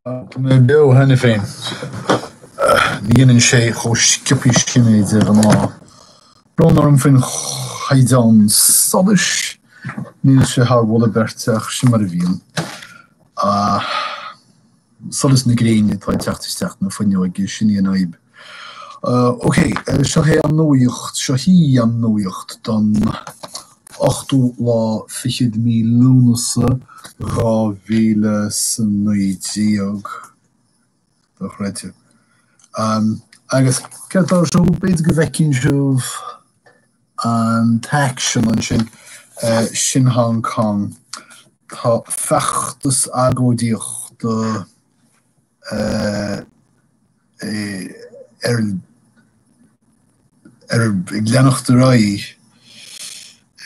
Tá mé beo cheana féin. Ní dhéanann sé chomh sciobtha sin é de ghnáth. Brón orm faoin chaighdeán solais, níl sé thar mholadh beirte ach sin mar a bhíonn. solas na gréine atá ag teacht isteach an fhuinneog, sin é an fhadhb. OK, seo hé an nuaíocht, seo hí an nuaíocht don ochtú lá fichead mí Lúnasa, dhá mhíle 's a naoi déag. Dochreidte. Agus céard tá ar siúl? B'fhéidir go bhfeiceann sibh. An t-aicsean ansin, sin Hong Cong. Tá feachtas agóidíochta ar ag leanacht ar aghaidh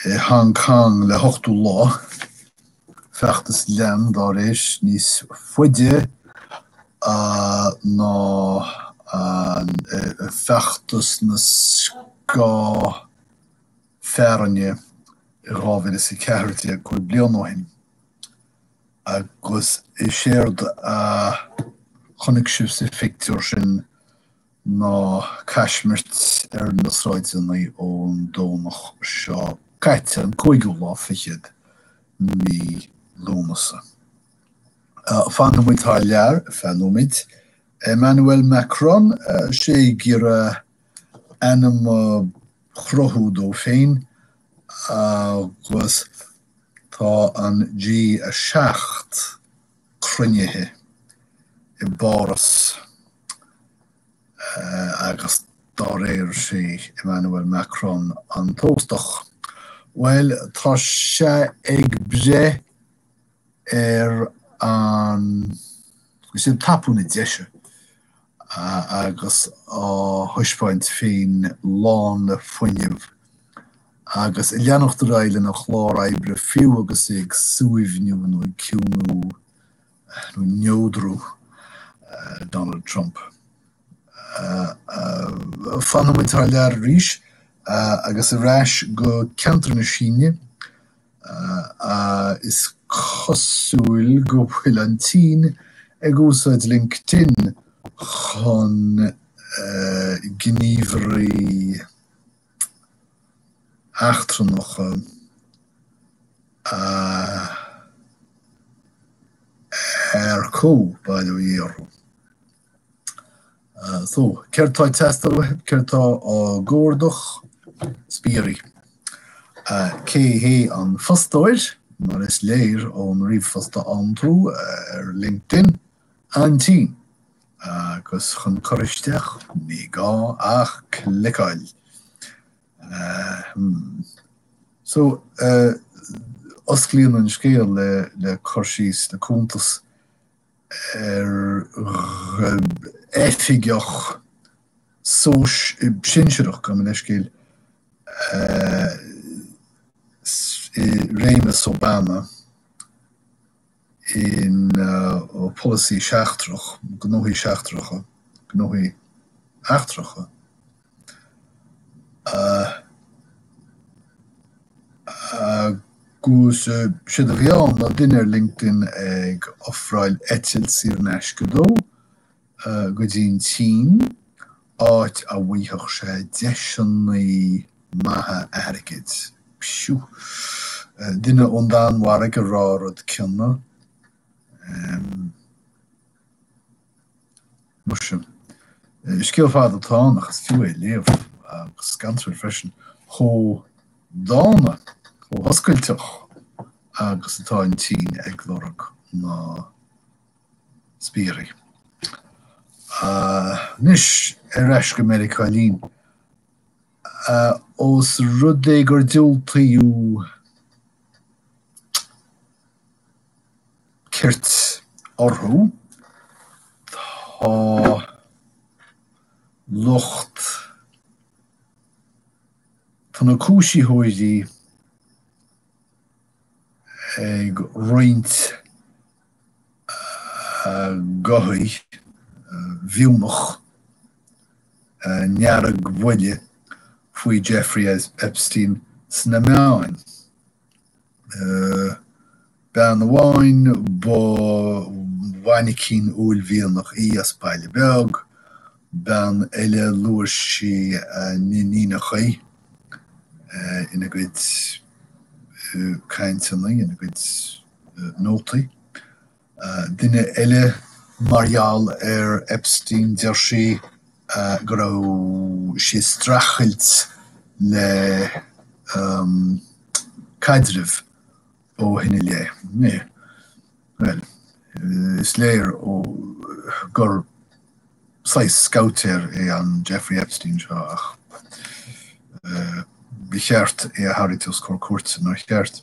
i Hong Cong le hochtú lá. Feachtas, lean dá réir níos faide ná feachtas na scáth fearthainne i 2014, cúig bliana ó shin, agus is éard a chonaic sibh sa phictiúr sin, ná caismirt ar na sráideanna ón Domhnach seo caite, an cúigiú lá fichead de mhí Lúnasa. Fanfaidh muid thar lear feadh nóiméid. Emmanuel Macron, sé ag iarraidh ainm a chruthú dó féin agus tá an G7 cruinnithe i bPáras. Agus dá réir, is é Emmanuel Macron an t-óstach. Bhuel, tá sé ag breith ar an, tá sé ag tapú na deise agus á thaispeáint féin lán le fuinneamh agus ag leanacht ar aghaidh lena chlár oibre fiú agus é ag suaimhniú nó ag ciúnú. nó neodrú Donald Trump. Fanfaidh muid thar lear arís agus ar ais go ceantar na Síne, is cosúil go bhfuil an tSín ag úsáid LinkedIn chun gníomhairí eachtrannacha a earcú, bail ó Dhia orthu. So, céard tá ag teastáil uathu? Céard tá á gcuardach? Spiairí. Cé hé an fostóir? Mar is léir ón ríomhphost a fhaigheann tú ar LinkedIn. An tSín. Agus chun cur isteach ní gá ach cliceáil. Ahem. So, eh, osclaíonn an scéal le, le cur síos, le cuntas ar gh, oifigeach sóis, sinsearach, gabh mo leithscéal, eh, s', eh, réimeas Obama, ina pholasaí seachtrach, gnóthaí seachtracha, gnóthaí eachtracha agus séard a bhí ann ná duine ar LinkedIn ag ofráil eitilt saor in aisce dó, go dtí an tSín, áit a bhfaighfeadh sé deiseanna maithe airgid. Psiu. Duine ón Danmhairg ag rá an rud céanna. Em. Muise. Scéal fada atá ann ach is fiú é a léamh. Agus scanrúil freisin. Chomh dána, chomh hoscailteach agus atá an tSín ag lorg na. spiairí. Anois ar ais go Meiriceá linn. Ós rud é gur diúltaíodh cirt orthu, tá lucht, tá na cúisitheoirí ag roinnt, gcuthaigh, mhiúmach, a ndeargbhuile faoi Jeffrey Epstein sna meáin. Bean amháin, ba mhainicín uaillmhianach í as baile beag, bean eile, luaigh sí a n-iníonacha ina gcuid cainteanna, ina gcuid. nótaí. Duine eile mar gheall ar Epstein deir sí go raibh sí ag streachailt le caidreamh ó shin i leith. Bhuel, is léir ó gur saghas scabhaitéir é an Jeffrey Epstein seo ach ba cheart é a tharraingt os comhair cúirte, nár cheart?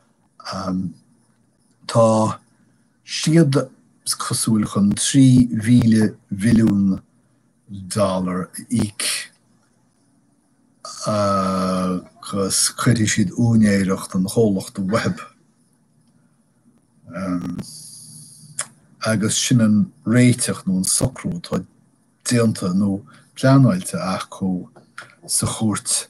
Tá siad cosúil chun $3,000 mhilliún a íoc agus cuirfidh siad úinéireacht an chomhlacht uathu agus sin an réiteach nó an socrú atá déanta nó pleanáilte acu sa chúirt.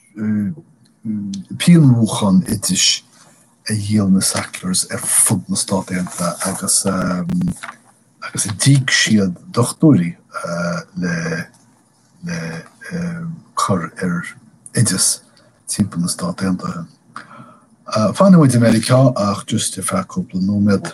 pianmhúchán oidis a dhíol na Sacklers ar fud na Stát Aontaithe agus agus a d'íoc siad dochtúirí le le cur ar oideas timpeall na Stát Aontaithe. Fanfaimid i Meiriceá ach just ar feadh cúpla nóiméad.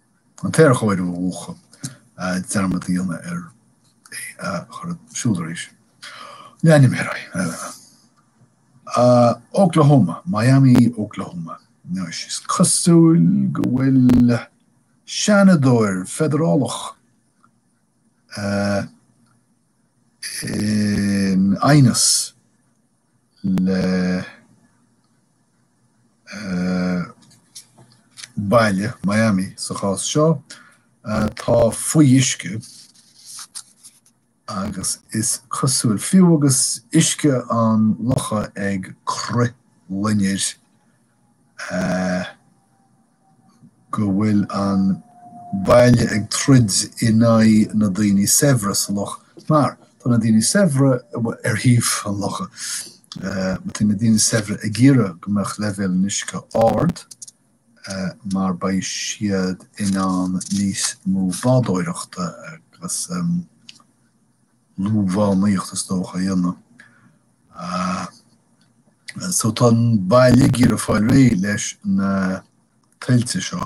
an t-aerchóiriú, a mhúchadh, dearmad a dhéanamh air, é a chur ar siúl arís. Leanaimid ar aghaidh. Ah, Oklahoma, Miami, Oklahoma. Anois, is cosúil go bhfuil seanadóir feidearálach in aighneas. le baile, Miami sa chás seo, atá faoi uisce agus is cosúil, fiú agus uisce an locha ag crithlonrú go bhfuil an baile ag troid in aghaidh na daoine saibhre sa loch mar tá na daoine saibhre ar thaobh an locha. Tá na daoine saibhre ag iarraidh go mbeadh leibhéal an uisce go hard mar beidh siad in ann níos mó bádóireachta agus. luamhaireacht is dócha a dhéanamh. So tá an baile ag iarraidh fáil réidh leis na tuilte seo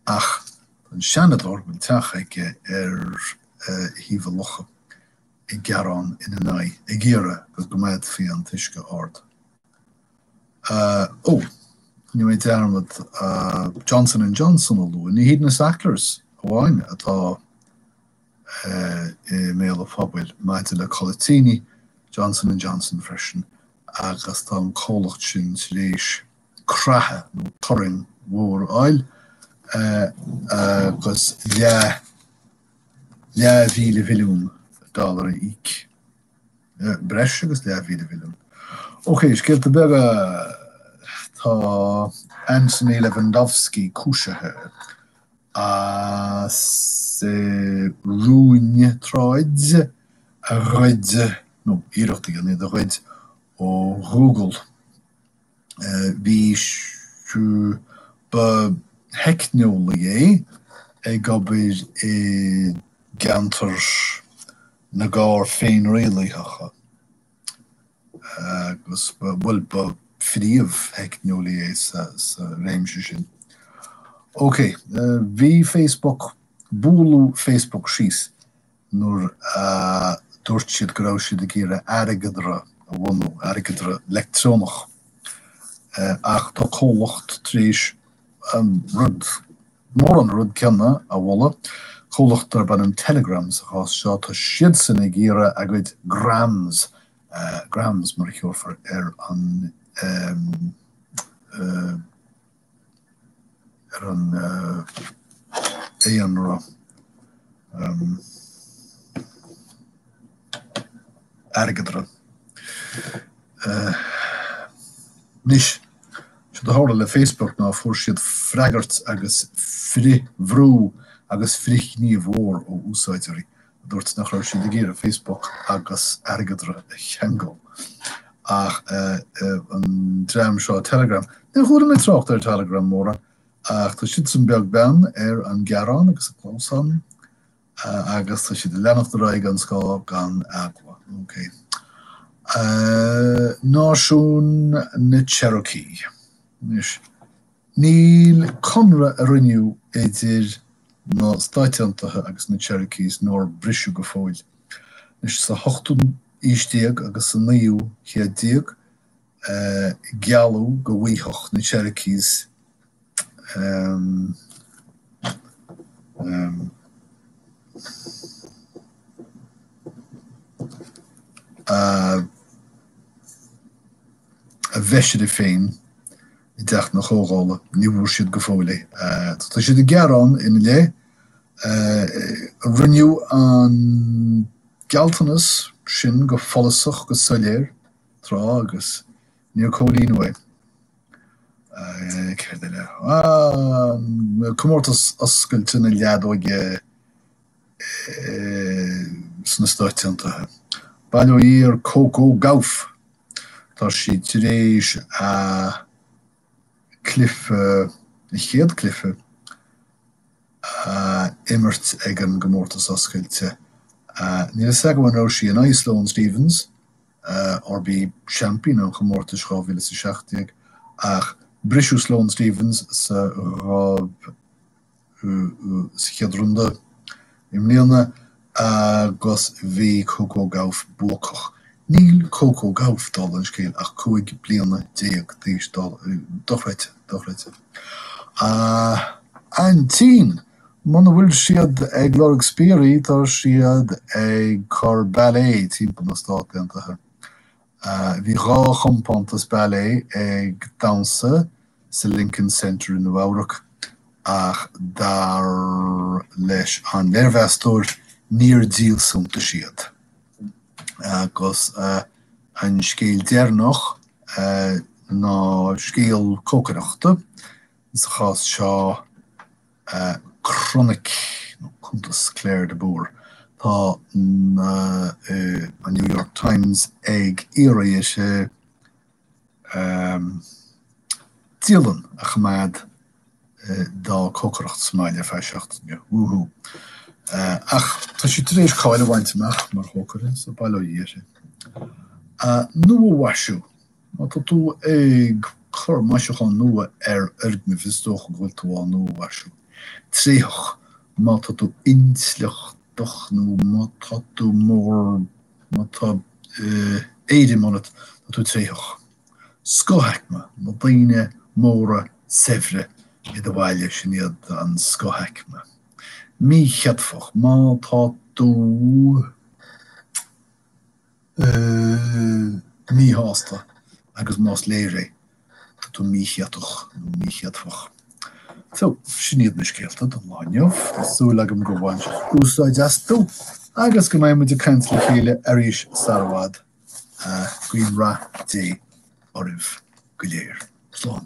ach tá an Seanadóir a bhfuil teach aige ar thaobh an locha ag gearán ina n-aghaidh, ag iarraidh go gcoimeádfaí an t-uisce ard. Ó, rinne mé dearmad Johnson and Johnson a lua. Ní hiad na Sacklers amháin atá i mbéal an phobail maidir le codlaidíní, Johnson and Johnson freisin, agus tá an comhlacht sin tar éis creathadh nó turraing mhór a fháil agus leath leathmhíle mhilliún dollar a íoc, breis agus leath mhíle mhilliún. OK, scéalta beaga, tá Anthony Levandovski cúisithe. as a rúin tráid a ghoid nó iarracht a dhéanamh iad a ghoid ó Ghoogle. Bhí sé, ba theicneolaí é ag obair i gceantar na gcarr féinrialaitheacha. agus bhuel ba phríomh-theicneolaí é sa réimse sin. Ok, bhí Facebook, bualadh Facebook síos nuair a dúirt siad go raibh siad ag iarraidh airgeadra a bhunú, airgeadra leictreonach, ach tá comhlacht tar éis, an rud mór an rud céanna a mholadh, comhlacht darb ainm Telegram sa chás seo, tá siadsan ag iarraidh a gcuid grams, grams mar a thabharfar ar an ar an aon rud. airgeadra. Anois, séard a tharla le Facebook ná fuair siad freagairt agus frithbhrú agus frithghníomh mór ó úsáideoirí a dúirt nach raibh siad ag iarraidh Facebook agus airgeadra a cheangal. Ach an dream seo Telegram, níor chuala mé trácht ar Telegram mórán, ach tá siadsan beag beann ar a ngearán agus a gclamhsán agus tá siad ag leanacht ar aghaidh gan scáth gan eagla. Ok. Náisiún na Cherokee. Anois, níl conradh a rinneadh idir na Stáit Aontaithe agus na Cherokees nár briseadh go fóill. Anois, sa hochtú aois déag agus sa naoú céad déag, gealladh go bhfaigheadh na Cherokees a bhfeisire féin i dTeach na Comhdhála. Ní bhfuair siad go fóill é. Tá siad ag gearán ina leith. Rinneadh an gealltanas sin go follasach, go soiléir. tráth agus níor comhlíonadh é. Céard eile? An comórtas oscailte na leadóige sna Stáit Aontaithe. Bail ó Dhia ar Coco Gauff! Tá sí tar éis a cluiche, a céad cluiche, a imirt ag an gcomórtas oscailte. Níl a fhios agam, an raibh sí in aghaidh Sloane Stephens. Arbh í seaimpín an chomórtais 2017, ach briseadh Sloane Stephens 6-0 sa chéad rúnda i mbliana agus bhí Coco Gauff buacach. Níl Coco Gauff, dála an scéil, ach 15 bliana d'aois, do-, dochreidte, dochreidte. A Aintín! Muna bhfuil siad ag lorg spiairí tá siad ag cur ballet timpeall na Stát Aontaithe. Bhí dhá chompántas ballet ag damhsa sa Lincoln Center i Nua Eabhrac ach dar leis an léirmheastóir níor díol suntais iad. Agus an scéal deireanach ná scéal cócaireachta. sa chás seo, croinic nó cuntas Claire de Búr, tá an New York Times ag iarraidh dise dialann a choimeád dá cócaireacht sa mbaile ar feadh seachtaine. Woo hoo. Ach tá sí tar éis cáil a bhaint amach mar chócaire, so bail ó Dhia uirthise. Nuamhaisiú. Má tá tú ag cur maisiúcháin nua ar fhoirgnimh, is dócha go bhfuil tú á nuamhaisiú. tréitheach. Má tá tú intleachtach nó má tá tú mór má tá eh éirim ionat, tá tú tréitheach. scothaicme, na daoine móra saibhre i do bhaile, sin iad an scothaicme. míchéadfach, má tá tú. míshásta agus más léir é, tá tú míchéatach nó míchéadfach. So, sin iad na scéalta don lá inniu. Tá súil agam gur bhain sibh úsáid astu agus go mbeidh muid ag caint le chéile arís sara bhfad. Guím rath Dé oraibh go léir. Slán.